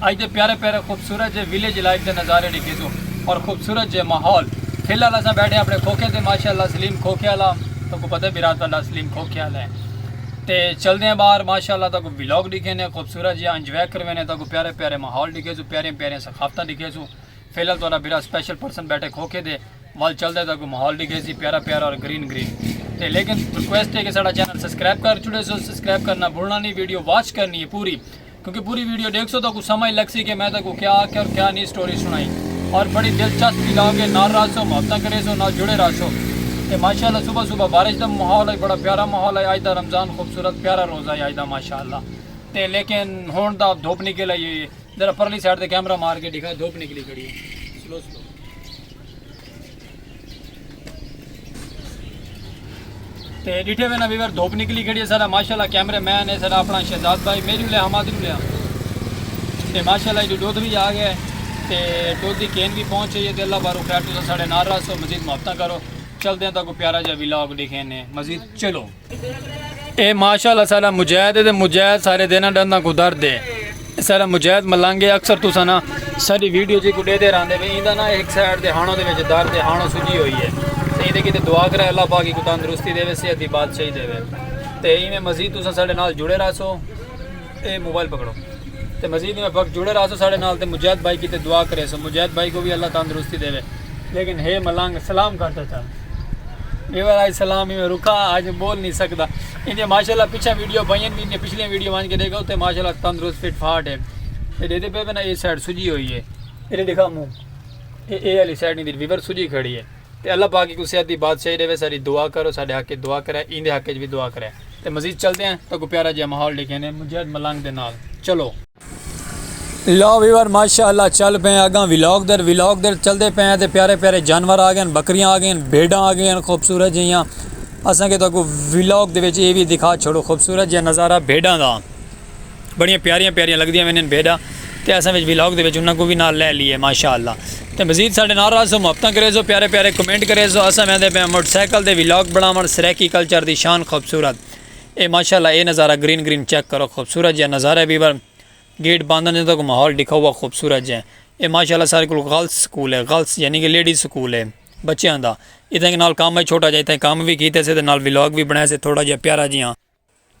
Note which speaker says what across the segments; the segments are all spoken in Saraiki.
Speaker 1: اج دے پیارے پیارے خوبصورت جے ویلیج لائف دے نظارے ڈیکھیسوں اور خوبصورت جے ماحول فی الحال اساں بیٹھے اپنے کھوکھے تے ماشاءاللہ سلیم کھوکھے والا تو کو پتہ برات والا سلیم کھوکھے والا ہے تے چل دے ہیں باہر ماشاءاللہ تو کو ویلاگ ڈیکھے نے خوبصورت جے انجوائے کروے نے تو کو پیارے پیارے ماحول ڈیکھے سو پیارے پیارے ثقافتاں ڈیکھے سو فی الحال تو برا سپیشل پرسن بیٹھے کھوکھے دے وال چل دے تو کو ماحول ڈیکھے سی پیارا پیارا اور گرین گرین تے لیکن ریکویسٹ ہے کہ ساڑا چینل سبسکرائب کر چھوڑے سو سبسکرائب کرنا بھولنا نہیں ویڈیو واچ کرنی ہے پوری کیونکہ پوری ویڈیو دیکھ سو تو کو سمجھ لگ سی کہ میں تو کو کیا آکھیا اور کیا نہیں سٹوری سنائی اور بڑی دلچسپ بھی لاؤ گے نال راسو محبتاں کرے سو نال جڑے راسو تے ماشاءاللہ صبح صبح بارش دا ماحول ہے بڑا پیارا ماحول ہے آج دا رمضان خوبصورت پیارا روزہ ہے آج دا ماشاءاللہ تے لیکن ہون دا دھوپ نکل آئی ہے ذرا پرلی سائڈ تے کیمرہ مار کے دکھا دھوپ نکلی کھڑی ہے سلو سلو تے ڈیٹھے وینا ویور دھوپ نکلی کھڑی ہے سارا ماشاءاللہ کیمرے مین ہے سارا اپنا شہزاد بھائی میری لے ہما دی لے تے ماشاءاللہ ایڈی دودھ بھی آ گئے تے دودھ دی کین بھی پہنچ گئی ہے تے اللہ بارو خیر تو ساڑے نار رہا سو مزید محبتہ کرو چل دیں تو کو پیارا جا ویلاگ دیکھیں نے مزید چلو اے ماشاء اللہ سارا مجاہد ہے تے مجاہد سارے دینا ڈندا کو درد ہے سارا مجاہد ملنگ ہے اکثر تسا نا ساری ویڈیو جی کو دیتے رہندے وے ایندا نا ایک سائیڈ دے ہانوں دے وچ درد ہے ہانوں سجی ہوئی ہے تے ایندے کیتے دعا کرے اللہ پاک کو تندرستی دے وے صحت دی بادشاہی دے وے تے ایویں مزید تسا سارے نال جڑے رہسو اے موبائل پکڑو تے مزید ایویں وقت جڑے رہاسو ساڑے نال تے مجید بھائی کیتے دعا کریسو مجید بھائی کو وی اللہ تندرستی دیوے لیکن ہے ملنگ سلام کر تے چل ایویں راج سلام ایویں رکھا اج بول نہیں سکدا ایندے ماشاءاللہ پیچھے ویڈیو پائیں بھی ایندے پچھلے ویڈیو وان کے دیکھا تے ماشاءاللہ تندرست فٹ فاٹ ہے تے دیدے پے نا اے سائیڈ سجی ہوئی ہے اے دکھا منہ اے اے علی سائیڈ نہیں دی ویور سجی کھڑی ہے تے اللہ پاک اکوں صحت دی بادشاہی ݙیوے ساݙی دعا کرو ساݙے حق اچ دعا کرے ایندے حق اچ وی دعا کرے تے مزید چلدے ہیں تہاکوں پیارا جیہا ماحول ݙیکھیندے مجاہد ملنگ دے نال چلو۔ لو ویور ماشاء اللہ چل پئے ہیں اگاں ولاگ در ولاگ در چلدے پئے ہیں تے پیارے پیارے جانور آ گئے ہیں بکریاں آ گئے ہیں بھیڈاں آ گئے ہیں خوبصورت جیہاں اساں کے تہاکوں ولاگ دے وچ ایہ وی دکھا چھوڑو خوبصورت جیہاں نظارہ بھیڈاں دا۔ بڑیاں پیاریاں پیاریاں لگدیاں ویندین بھیڈاں تے اساں وچ ولاگ دے وچ انہاں کوں وی نال لے لیے ماشاءاللہ تے مزید ساڈے نال رہسو محبتاں کریسو پیارے پیارے کمنٹ کریسو اساں ویندے پیاں موٹر سائیکل دے ولاگ بناون سرائیکی کلچر دی شان خوبصورت اے ماشاءاللہ اے نظارہ گرین گرین چیک کرو خوبصورت جیہا نظارہ ہے ویور گیٹ بند نے تک ماحول ڈکھا ہوا خوبصورت جیہا اے ماشاءاللہ سارے کول گرلز سکول ہے گرلز یعنی کہ لیڈیز سکول ہے بچیاں دا اتھاں نال کام ہے چھوٹا جیہا اتھاں کام وی کیتے سے تے نال ولاگ وی بنائے سے تھوڑا جیہا پیارا جیہا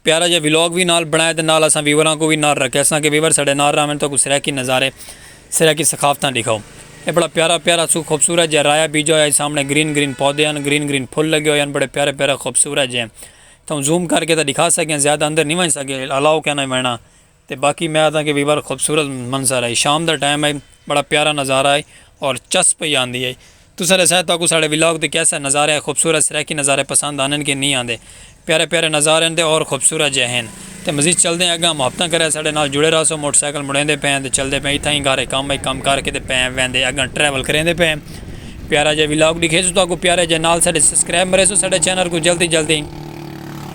Speaker 1: پیارا جیہا ولاگ وی نال بنڑائے تے نال اساں ویوراں کوں وی نال رکھیساں کہ ویور ساڈے نال راہون تہاکوں سرائیکی نظارے سرائیکی ثقافتاں ڈکھاؤ اے بڑا پیارا پیارا سو خوبصورت جیہا رایا بیجا ہویا اے سامنے گرین گرین پودے ہن گرین گرین پھل لگے ہوئے ہن بڑے پیارے پیارے خوبصورت جیہے تہاوں زوم کر کے تاں ڈکھا سکیاں زیادہ اندر نی ونج سکے الاؤ کہنا وینا تے باقی میں آدھاں کہ وی بڑا خوبصورت منظر ہئی شام دا ٹائم ہئی بڑا پیارا نظارہ ہئی اور چس پئی آندی ہئی تساں ڈسائے تہاکوں ساڈے ولاگ دے کیسے نظارے ہئی خوبصورت سرائیکی نظارے پسند آندن کہ نی آندے پیارے پیارے نظارے ہن تے اور خوبصورت جئے ہن تے مزید چلدے ہیں اگاں محبتاں کرے ساڈے نال جڑے رہسو موٹر سائیکل مڑیندے پئے ہیں تے چلدے پئے ہیں اتھاں ہی گھر ہئی کم ہئی کم کر کے تے پئے ہیں ویندے اگاں ٹریول کریندے پئے ہیں پیارا جئے ولاگ ڈکھیسو تہاکوں پیارے جئے نال ساڈے سبسکرائب مریسو ساڈے چینل کوں جلدی جلدی۔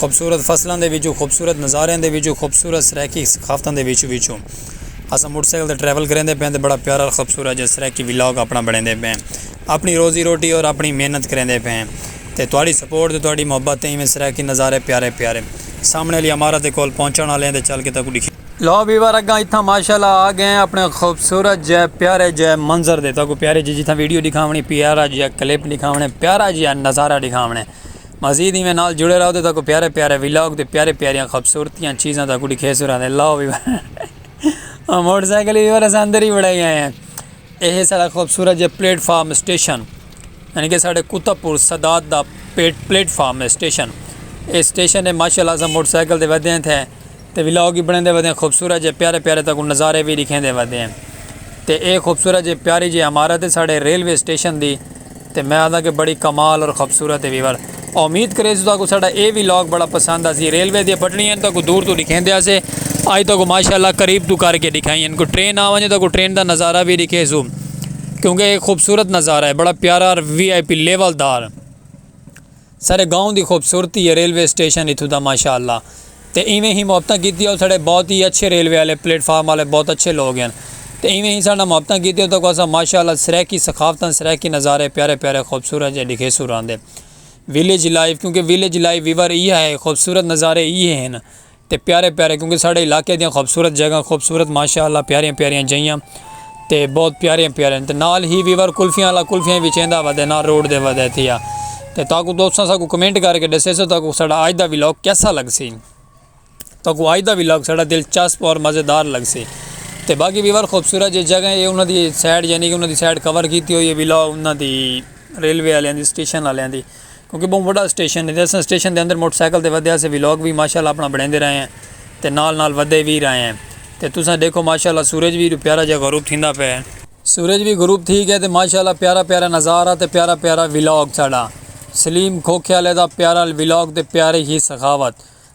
Speaker 1: خوبصورت فصلاں دے وچوں خوبصورت نظاریاں دے وچوں خوبصورت سرائیکی ثقافتاں دے وچ وچوں اساں موٹر سائیکل تے ٹریول کریندے پئے ہیں تے بڑا پیارا خوبصورت جیہاں سرائیکی ولاگ اپنا بنیندے پئے ہیں اپنی روزی روٹی اور اپنی محنت کریندے پئے ہیں تے
Speaker 2: تہاڈی سپورٹ تے تہاڈی محبت تے ایویں سرائیکی نظارے پیارے پیارے سامنے آلی عمارت دے کول پہنچݨ آلے ہیں تے چل کے تہاکوں ݙکھیندے لو ویور اگاں اتھاں ماشاءاللہ آ گئے ہیں اپنے خوبصورت جیہے پیارے جیہے منظر دے تہاکوں پیاری جیہی جتھاں ویڈیو ݙکھاوݨی پیارا جیہا کلپ ݙکھاوݨے پیارا جیہا نظارہ ݙکھاوݨے۔ مزید ایویں نال جڑے رہو تے تہاکوں پیارے پیارے ولاگ تے پیارے پیاریاں خوبصورتیاں چیزاں تہاکوں ڈکھیسوں رہندے لاؤ وی او موٹر سائیکل وی اساں اندر ہی بنڑائی آئے آں ایہہ ساڑا خوبصورت جیہا پلیٹ فارم اسٹیشن یعنی کہ ساڑے کتب پور صداد دا پلیٹ فارم ہے اسٹیشن اے اسٹیشن ہے ماشاء اللہ اساں موٹر سائیکل تے ودھے تھے تے ولاگ وی بݨیندے ودے ہیں خوبصورت جے پیارے پیارے تہاکوں نظارے وی ݙیکھیندے ودے ہیں تے اے خوبصورت جے پیاری جے عمارت ہے ساݙے ریلوے اسٹیشن دی تے میں آہداں کہ بڑی کمال اور خوبصورت ہے ویور امید کریسوں تہاکوں ساݙا اے ولاگ بڑا پسند آسی ریلوے دی پٹڑیاں ہیں تہاکوں دور توں ݙیکھیندے ہاسے آج تہاکوں ماشاءاللہ قریب توں کر کے ݙیکھائیں ہیں کوئی ٹرین آ ونڄے تہاکوں ٹرین دا نظارہ وی ݙیکھیسوں کیونکہ اے خوبصورت نظارہ ہے بڑا پیارا اور وی آئی پی لیول دار ساڈے گاؤں دی خوبصورتی ہے ریلوے اسٹیشن اتھوں دا ماشاء اللہ تے ایویں ہی محبتاں کیتیاں اتھڑے بہت ہی اچھے ریلوے آلے پلیٹ فارم آلے بہت اچھے لوگ ہن تے ایویں ہی ساڈے نال محبتاں کیتیاں اتھاں کوں اساں ماشاء اللہ سرائیکی ثقافتاں سرائیکی نظارے پیارے پیارے خوبصورت جے ڈکھیسوں راندے ویلیج لائف کیونکہ ویلیج لائف ویور ایہا ہے خوبصورت نظارے ایہے ہن تے پیارے پیارے کیونکہ ساڈے علاقے دیاں خوبصورت جگہ خوبصورت ماشاء اللہ پیاریاں پیاریاں جئیاں تے بہت پیاریاں پیاریاں تے نال ہی ویور کلفیاں والا کلفیاں وی چیندا ودے نال روڈ دے ودے تھیا تے تاکو دوستاں ساکو کمنٹ کر کے ڈسے سو تاکو ساڈا آج دا ولاگ کیسا لگ سی تاکو آج دا ولاگ ساڈا دلچسپ اور مزیدار لگ سی تے باقی ویور خوبصورت جے جگہ ہے انہاں دی سائڈ یعنی کہ انہاں دی سائڈ کور کیتی ہوئی ہے ولاگ انہاں دی ریلوے والیاں دی اسٹیشن والیاں دی کیونکہ بہوں وڈا اسٹیشن ہے تے اساں اسٹیشن دے اندر موٹر سائیکل تے ودھے اسے ولاگ وی ماشاءاللہ اپنا بنڑیندے رہے ہیں تے نال نال ودھے وی رہے ہیں تے تساں ڈیکھو ماشاءاللہ سورج وی پیارا جیہا غروب تھیندا پئے ہے۔ سورج وی غروب تھی گئے تے ماشاءاللہ پیارا پیارا نظارہ تے پیارا پیارا ولاگ ساڈا سلیم کھوکھے آلے دا پیارا ولاگ تے پیاری ہی سخاوت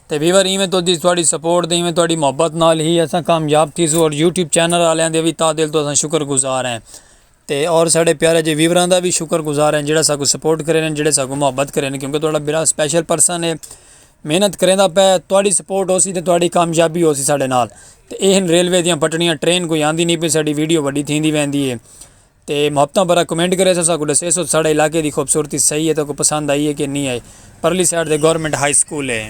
Speaker 2: تے ویور ایویں توں دی تہاڈی سپورٹ تے ایویں تہاڈی محبت نال ہی اساں کامیاب تھیسوں اور یوٹیوب چینل آلیاں دے وی تہہ دل توں اساں شکر گزار ہیں تے اور ساڈے پیارے جے ویوراں دا وی شکر گزار ہیں جیڑھا ساکوں سپورٹ کرے نے جیڑھے ساکوں محبت کرے نے کیونکہ تہاڈا برا سپیشل پرسن ہے محنت کریندا پئے تہاڈی سپورٹ ہوسی تے تہاڈی کامیابی ہوسی ساڈے نال تے ایہ ہن ریلوے دیاں پٹڑیاں ٹرین کوئی آندی نی پئی ساڈی ویڈیو وڈی تھیندی ویندی ہے تے محبتاں بھرا کمنٹ کریسو ساکوں ڈسیسو ساڈے علاقے دی خوبصورتی صحیح ہے تہاکوں پسند آئی ہے کہ نی آئی پرلی سائیڈ تے گورنمنٹ ہائی سکول ہے۔